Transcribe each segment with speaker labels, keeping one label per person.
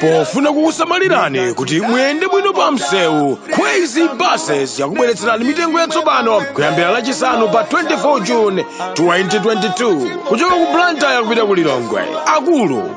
Speaker 1: pofuna kukusamalirani kuti muyende bwino pa msewu Khweze buses yakubweretserani mitengo yatsopano kuyambira lachisanu pa 24 june 2022 kuchoka ku blantyre kupita ku lilongwe akulu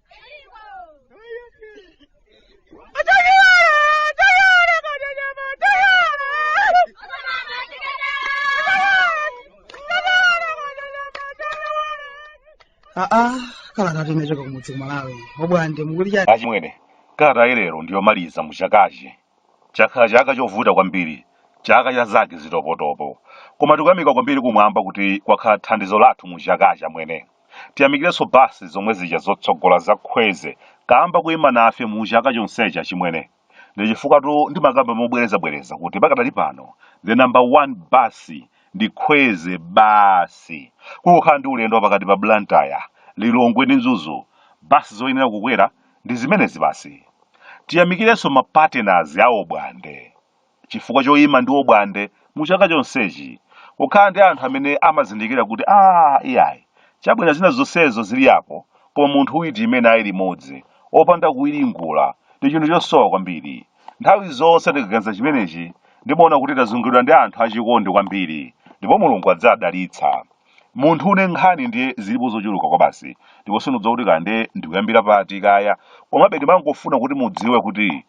Speaker 2: aa kalatatu inachoka kumudzi kumalawi obwande mukuti chani achimwene
Speaker 3: kalata ya lero ndiyomaliza muchakachi Chakhala chaka chovuta kwambiri, chaka cha zake zitopotopo. Koma tikuyamika kwambiri kumwamba kuti kwakhala thandizo lathu mu chakachi amwene. Tiyamikirenso bus zomwe zija zotsogola za Khweze kamba koyima nafe mu chaka chonsechi achimwene. Ndi chifukwatu ndimakamba mobwereza bwereza kuti pakadali pano the number 1 bus ndi Khweze basi. Kungokhala ndi ulendo wapakati pa Blantyre, Lilongwe ndi Mzuzu, bus zoyenera kukwera Ndi zimenezi basi. Tiyamikirenso ma partners a Obwande chifukwa choima ndi Obwande mu chaka chonsechi. Kukhala ndi anthu amene amazindikira kuti aah iyayi, chabwera zina zonsezo zili apo koma munthu uyu tiime naye limodzi, opanda kuwiringula, ndi chinthu chosowa kwambiri. Nthawi zonse ndikaganiza chimenechi, ndimaona kuti tazunguliridwa ndi anthu achikondi kwambiri ndipo Mulungu adzawadalitsa. munthu une nkhani ndiye zilipo zochuluka kwabasi ndipo sindidziwa kuti kaya ndiye ndikuyambira pati kaya komabe ndimangofuna kuti mudziwe kuti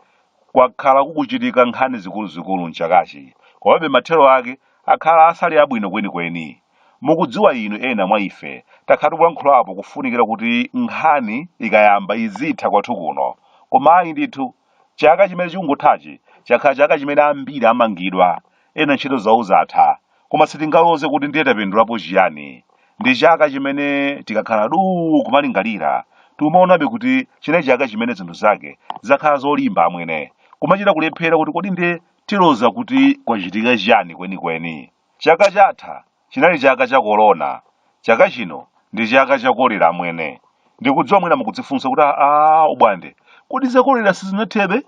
Speaker 3: kwakhala kukuchitika nkhani zikuluzikulu mchakachi komabe mathero ake akhala asali abwino kwenikweni mukudziwa inu ena mwa ife takhala tikulankhulapo kufunikira kuti nkhani ikayamba izitha kwathu kuno koma ayi ndithu chaka chimene chikukuthachi chakhala chaka chimene ambiri amangidwa ena ntchito zawo zatha Koma sitingaloze kuti ndiye tapindulapo chiyani. Ndi chaka chimene tikakhala duu kumalingalira, tikumaonabe kuti chinali chaka chimene zinthu zake zakhala zolimba amwene. Kumachita kulephera kuti kodi ndiye tiloza kuti kwachitika chiyani kwenikweni. Chaka chatha chinali chaka cha korona, chaka chino ndi chaka cha kolera amwene. Ndikudziwa mwina mukudzifunsa kuti aah Obwande, kodi za kolera sizinathebe?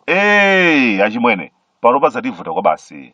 Speaker 3: Eee achimwene, panopa zativuta kwabasi.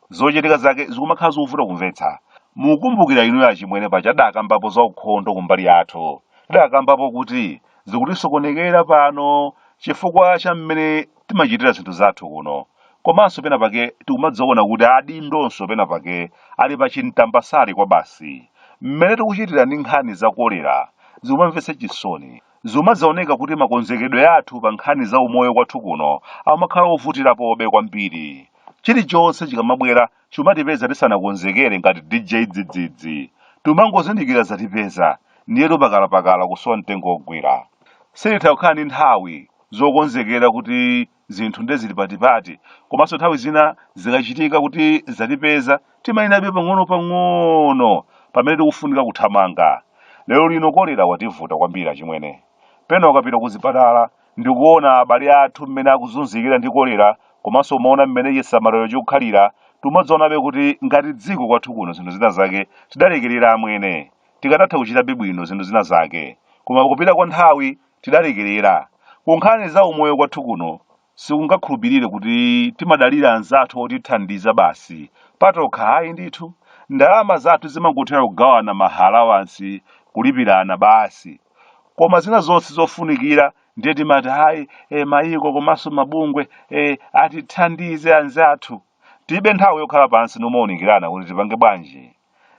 Speaker 3: zochitika zake zikumakhala zovuta kumvetsa mukumbukira inuyo achimwene paja tidakambapo za ukhondo kumbali yathu tidakambapo kuti zikutisokonekera pano chifukwa cha mmene timachitira zinthu zathu kuno komanso pena pake tikumadzaona kuti adindonso pena pake ali pa chintambasali kwabasi mmene tikuchitira ndi nkhani za kolera zikumamvetsa chisoni Zumadzaoneka kuti makonzekedwe athu pa nkhani za umoyo kwathu kuno amakhala ovutirapobe kwambiri. Chilichonse chikamabwera chumatipeza tisanakonzekere ngati DJ Dzidzidzi. Tumangozindikira zatipeza, ndiye tupakalapakala kusowa mtengo wogwira. Sititha kukhala ndi nthawi zokonzekera kuti zinthu nde zili patipati komanso nthawi zina zikachitika kuti zatipeza timayinabe pang'ono pang'ono pamene tikufunika kuthamanga lero lino kolera wativuta kwambiri achimwene pena ukapita ku zipatala ndikuona abale athu mmene akuzunzikira ndi kolera komanso umaona mmene chisamaliro chikukhalira timadzaonabe kuti ngati dziko kwathu kuno zinthu zina zake tidalekerera amwene tikadatha kuchitabe bwino zinthu zina zake koma kupita kwa nthawi tidalekerera. Ku nkhani za umoyo kwathu kuno sikungakhulupirire kuti timadalira anzathu otithandiza basi, patokha ayi ndithu. Ndalama zathu zimangothera kugawana ma halawansi, kulipirana basi. Koma zina zonse zofunikira ndiye timati ayi eh, mayiko komanso mabungwe atithandize anzathu. Tibe nthawi yokhala pansi nomaunikirana kuti tipange bwanji.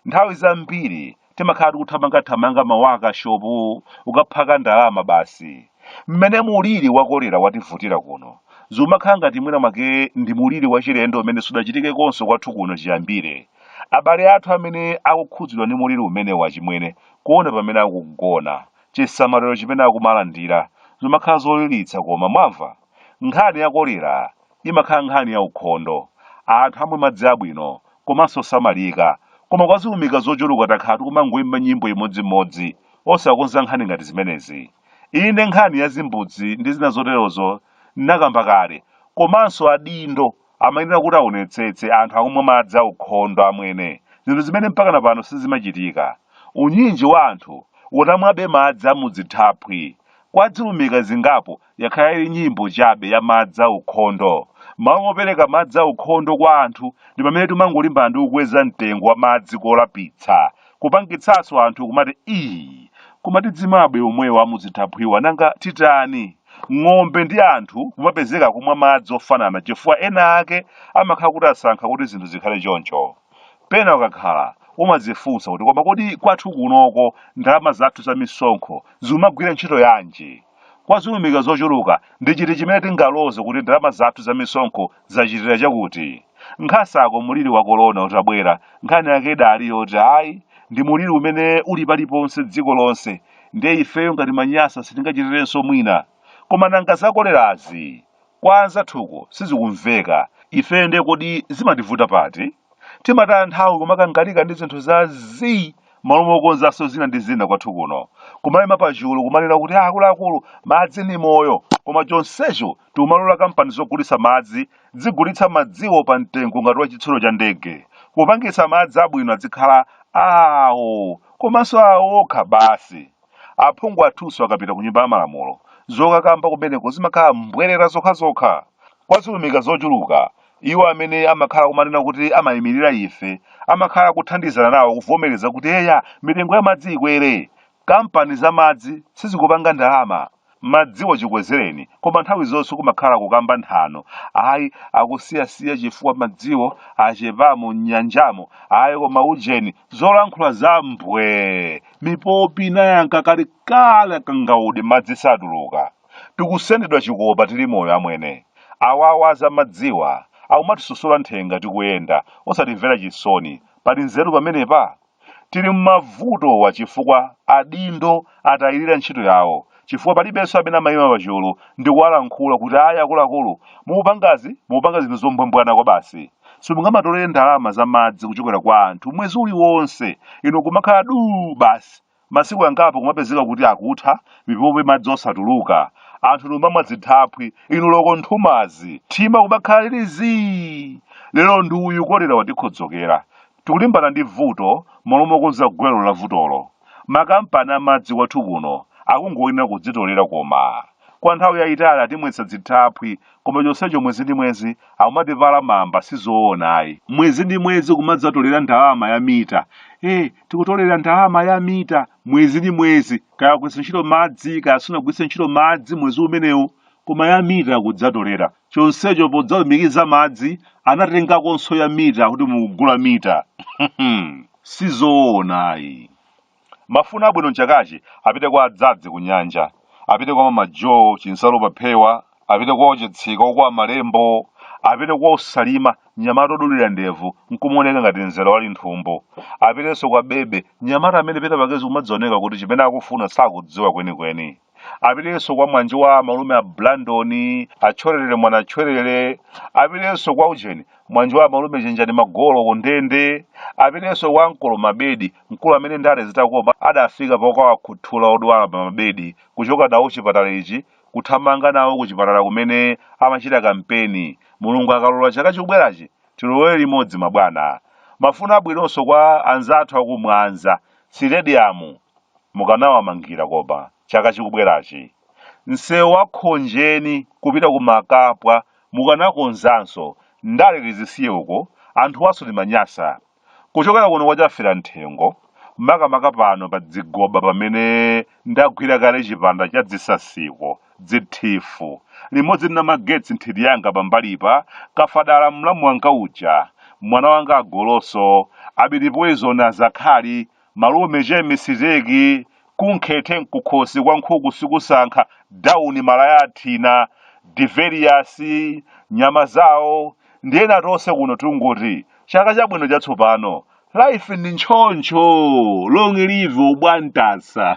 Speaker 3: nthawi zambiri timakhala tikuthamangathamanga mawakashopu okaphaka ndalama basi mmene muliri wakolera wativutira kuno zumakhala ngati mwina mwake ndi muliri wachilendo umene sudachitikekonso kwathu kuno chiyambire abale athu amene akukhudzidwa ndi muliri umenewu achimwene kuona pamene akugona chisamaliro chimene akumalandira zimakhala zoliritsa koma mwamva Nkhani ya kolera imakhala nkhani ya ukhondo, anthu amwe madzi abwino komanso osamalika koma kwa zilumika zochuluka takhala tikumangoimba nyimbo imodzimodzi osakonza nkhani ngati zimenezi. Inde nkhani ya zimbudzi ndi zina zoterozo nakamba kale komanso adindo amayenera kuti aonetsetse anthu akumwa madzi aukhondo amwene, zinthu zimene mpakana pano sizimachitika. Unyinji wa anthu utamwabe madzi a mu dzithaphwi kwa dzilumika zingapo yakhala ili nyimbo chabe ya madzi aukhondo. M'malo mopereka madzi aukhondo kwa anthu, ndi pamene timangolimbana ndi kukweza mtengo wa madzi kolapitsa kupangitsanso anthu kumati ii koma tidzimwabe omwewo amudzithaphwiwa nanga titani ng'ombe ndi anthu kumapezeka kumwa madzi ofanana chifukwa ena ake amakhala kuti asankha kuti zinthu zikhale choncho pena ukakhala umadzifunsa kuti koma kodi kwathu kunoko ndalama zathu za misonkho zimagwira ntchito yanji Kwa zilumika zochuluka, ndi chiti chimene tingaloze kuti ndalama zathu za misonkho zachitira chakuti? Nkhasako muliri wa korona utabwera, nkhani yake idali yoti, ayi, ndi muliri umene uli paliponse dziko lonse, ndiye ifeyo ngati maNyasa sitingachitirenso mwina. Koma nanga za kolerazi? Kwa anzathu uko sizikumveka. Ifeyo ndiye kodi zimativuta pati? Timataya nthawi kumakangalika ndi zinthu za zii m'malo mokonzanso zina ndi zina kwathu kuno. Kumayima pachulu kumanena kuti "Ah, akuluakulu, madzi ndi moyo. Koma chonsecho tikumalola kampani zogulitsa madzi zizigulitsa madziwo pa mtengo ngati wa chitsulo cha ndege, kupangitsa madzi abwino adzikhala awo komanso awo okha basi. Aphungu athunso akapita ku Nyumba ya Malamulo, zokakamba kumeneko zimakhala mbwerera zokhazokha. Kwa ziumika zochuluka, iwo amene amakhala kumanena kuti amaimirira ife amakhala kuthandizana nawo kuvomereza kuti eya, mitengo ya madzi ikwere. Kampani za madzi sizikupanga ndalama. madziwo chikwezereni koma nthawi zonse kumakhala kukamba nthano ayi akusiyasiya chifukwa madziwo achepamo m'nyanjamo ayi koma ujeni zolankhula za mbwee mipopi inayanka kali kale kangaude madzi satuluka tikusendedwa chikopa tili moyo amwene awawa a zamadziwa akumatisosola nthenga tikuyenda osatimvera chisoni pali nzeru pamenepa Tili m'mavutowa chifukwa adindo atayirira ntchito yawo chifukwa palibenso amene amayima pachulu ndikuwalankhula kuti ayi akuluakulu mukupangazi mukupanga zinthu zombwambwana kwabasi. Simungamatolere ndalama za madzi kuchokera kwa anthu mwezi uliwonse inu nkumakhala duu basi masiku angapo kumapezeka kuti akutha mipopi madzi osatuluka anthu nkumamwa dzithaphwi inu loko nthumazi thima kumakhala lili zii lero ndi uyu kolera watikhodzokera Tikulimbana ndi vuto m'malo mokonza gwero la vutolo. Makampani a madzi kwathu kuno akungoyenera kudzitolera koma. Kwa nthawi yaitali atimwetsa dzithaphwi koma chonsecho mwezi ndi mwezi akumatipala mamba sizoona ayi. Mwezi ndi mwezi kumadzatolera ndalama ya mita. Eh, tikutolera ndalama ya mita mwezi ndi mwezi. Kaya wagwiritsa ntchito madzi kaya sunagwiritse ntchito madzi mwezi umenewo koma ya mita akudzatolera. chonsecho podzalumikiza madzi anatengakonso ya mita kuti mukugula mita si zoona ayi mafuna abwino m'chakachi apite kwa adzadzi ku nyanja apite kwa mama joe chinsalu paphewa apite kwa ochitsika a kwa malembo apite kwa osalima nyamata odulira ndevu nkumaoneka ngati mzera wa linthumbu apitenso kwa bebe nyamata amene pena pakezi kumazioneka kuti chimene akufuna sakudziwa kwenikweni apitenso kwa mwanji wa malume a blandon atchwererere mwana tchwerere apitenso kwa ujeni mwanji wa malume chenjani magolo kundende apitenso kwa mkolo mabedi mkulu amene ndale zitakomba adafika pokawakhuthula odwala pa mabedi kuchoka nawo chipatala ichi kuthamanga nawo ku chipatala kumene amachita kampeni mulungu akalola chaka chikubwerachi tilowere limodzi mabwana mafuna abwinonso kwa anzathu akumwanza sitediyamu mukanawamangira koma chaka chikubwerachi? Msewu wa Khonjeni kupita ku Makapwa mukanakonzanso, ndale tizisiye uko, anthuwanso timanyasa. Kuchokera kuno kwa Chaferamthengo, makamaka pano pa Dzigoba pamene ndagwira kale chipanda cha Dzisasiko, Dzithifu, limodzi ndi Namagetsi nthiti yanga pambalipa, Kafadala mlamu wanga uja, mwana wanga Agoloso, Abiti Poizoni azakhali, Malume Che Misiteki kunkhete nkukhosi kwa nkhuku sikusankha down malaya athina, Develiyous, nyama zawo ndi ena tonse kuno tungoti chaka chabwino chatsopano. Life ndi ntchoncho! Long live Obwantasa!